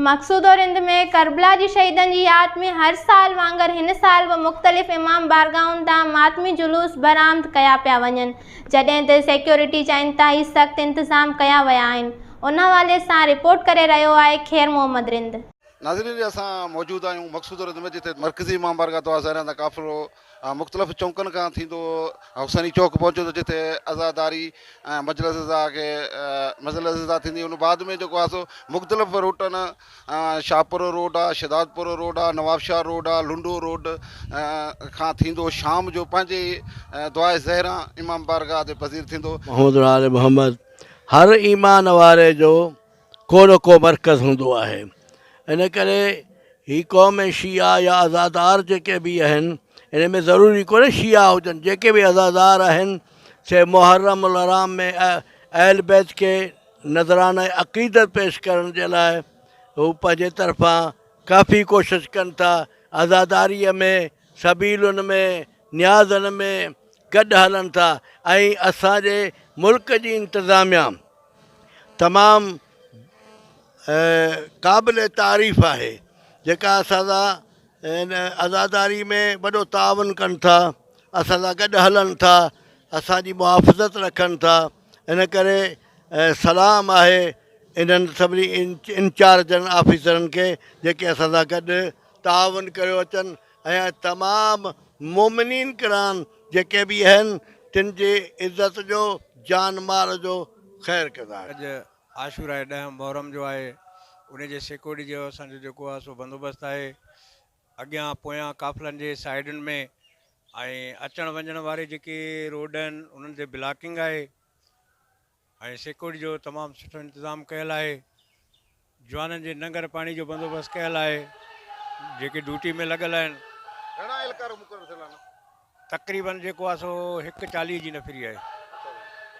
Maqsooda Rind ۾ Karbala جي شهيدن جي ياد ۾ هر سال وانگر هن سال به مختلف امام بارگاهن تان ماتمي جلوس برآمد ڪيا پيا وڃن جڏهن ته سيڪيورٽي جا انتهائي سخت انتظام ڪيا ويا آهن ان حوالي سان رپورٽ ڪري رهيو آهي خير محمد رند. ناظرين جي اسان موجود آهيون مقصوده رند ۾ جتي مرڪزي امام بارگاهه دعا زهران تان قافلو مان مختلف چونڪن کان ٿيندو حسيني چوڪ پهچيو ته جتي عزاداري ۽ مجلس عزا کي مجلس عزا ٿيندي ان بعد ۾ جيڪو آهي سو مختلف روٽن شاهپور روڊ آهي شهدادپور روڊ آهي نوابشاهه روڊ آهي لنڊو روڊ کان ٿيندو شام جو پنهنجي دعاء زهره امام بارگاهه تي پذير ٿيندو. محمد العالم محمد هر ايمان واري جو ڪو نه ڪو مرڪز هوندو آهي ان ڪري هي قوم ۽ شيعا يا عزادار جيڪي به آهن ان ۾ ضروري ڪونهي شيعا هجن جيڪي به عزادار آهن سي محرم الحرام ۾ اهل بيت کي نذرانه عقيدت پيش ڪرڻ جي لاء هو پنهنجي طرفان ڪافي ڪوشش ڪن ٿا عزاداريء ۾ سبيلن ۾ نيازن ۾ گڏ هلن ٿا ۽ اسان جي ملڪ جي انتظاميا تمام قابل تعريف آهي جيڪا اسان سا ان عزاداري ۾ وڏو تعاون ڪن ٿا اسان سا گڏ هلن ٿا اسان جي محافظت رکن ٿا ان ڪري سلام آهي انهن سڀني انچارجن آفيسرن کي جيڪي اسان سا گڏ تعاون ڪيو اچن ۽ تمام مؤمنين ڪران جيڪي به اهن تن جي عزت جو جان مال جو خير ڪندا. اڄ عاشوراء ڏهه محرم جو آهي انهي جي سيڪورٽي جو اسان جو جيڪو آهي سو بندوبست آهي اڳيان پويان قافلن جي سائيڊن ۾ ۽ اچڻ وڃڻ واري جيڪي روڊ آهن انهن تي بلاڪنگ آهي. ۽ سيڪورٽي جو تمام سٺو انتظام ڪيل آهي جوانن جي ننگر پاڻي جو بندوبست ڪيل آهي جيڪي ڊيوٽي ۾ لڳل آهن گهڻا اهلڪار مقرر ٿيل آهن تقريبن جيڪو آهي سو هڪ چاليهه جي نفري آهي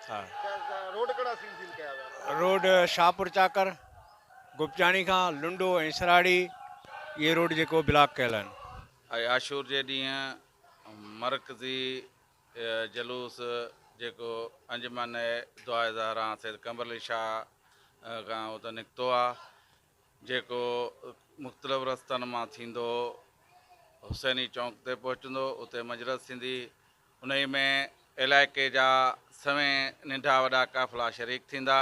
ها روڊ ڪهڙا سين سين ڪيا ويا آهن روڊ شاهپور چاڪر گپچاڻي کان لنڊو ۽ سراڙي اهي روڊ جيڪو بلاڪ ڪيل آهن آشور جي ڏينهن مرڪزي جلوس جيڪو انجمن دعاء زهران سيد قمبرعلي شاهه کان اتان نڪتو آ جيڪو مختلف رستن مان ٿيندو حسيني چونڪ تي پهچندو اتي مجلس ٿيندي انهي ۾ علائقي جا سوين ننڍا وڏا قافلا شريڪ ٿيندا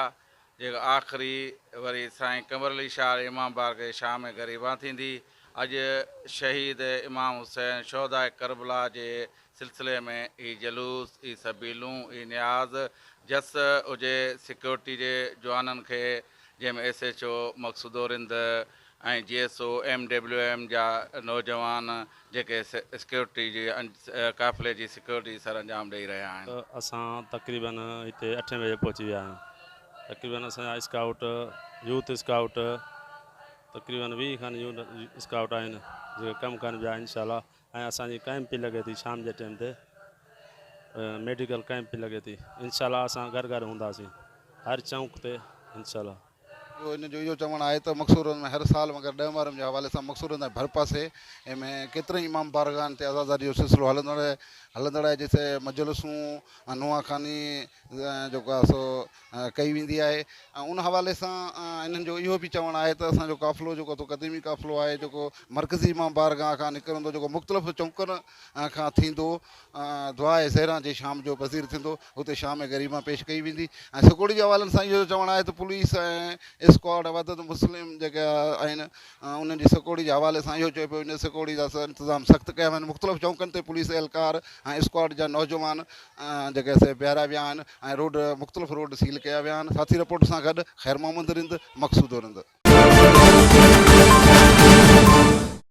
جيڪا آخري وري سائين قمر علي شال امام بارگاھ جي شاھ ۾ گريبان ٿيندي. اڄ شھيد امام حسين شھداء ڪربلا جي سلسلي ۾ اھي جلوس، اھي سبيلون، اھي نياز، جس ھجي سيڪيورٽي جي جوانن کي جنھن ۾ ايس ايڇ او مقصودورند ۽ جي S O M W M جا نوجوان جيڪي سيڪيورٽي جي قافلي جي سيڪيورٽي سرانجام ڏئي رهيا آهن. اسان تقريباً هتي اٺين بجي پهچي ويا آهيون تقريباً اسان جا اسڪائوٽ يوٿ اسڪائوٽ تقريباً ويهه کن يوٿ اسڪائوٽ آهن جيڪي ڪم ڪن پيا انشاء الله ۽ اسان جي ڪئمپ پي لڳي ٿي شام جي ٽيم تي ميڊيڪل ڪئمپ پي لڳي ٿي انشاء الله اسان گهر گهر هونداسين هر چونڪ تي انشاء الله. ٻيو هن جو اهو چوڻ آهي ته مقصورن ۾ هر سال مگر ڏهه محرم جي حوالي سان مقصورن تائين ڀرپاسي ۾ ڪيترن ئي امام بارگاهن تي عزاداري جو سلسلو هلندڙ هلندڙ آهي جتي مجلسون ۽ نوحه خواني جيڪو آهي سو ڪئي ويندي آهي ۽ ان حوالي سان انهن جو اهو به چوڻ آهي ته اسان جو قافلو جيڪو تو قديمي قافلو آهي جيڪو مرڪزي امام بارگاهه کان نڪرندو جيڪو مختلف چونڪن کان ٿيندو دعاء سحران جي شام جو پذير ٿيندو، اتي شام غريبان پيش ڪئي ويندي ۽ سکوڙي جي حوالن سان اهو چوڻ آهي ته پوليس ۽ اسڪواڊ وحدت مسلم جيڪي آهن انهن جي سکوڙي جي حوالي سان اهو چيو پيو وڃي ته سکوڙي جا انتظام سخت ڪيا ويا آهن مختلف چونڪن تي پوليس اهلڪار ۽ اسڪواڊ جا نوجوان جيڪي سي بيهاريا ويا آهن ۽ روڊ مختلف روڊ سيل ڪيا ويا آهن ساٿي رپورٽ سان گڏ خيرمحمد رند مقصودو رند.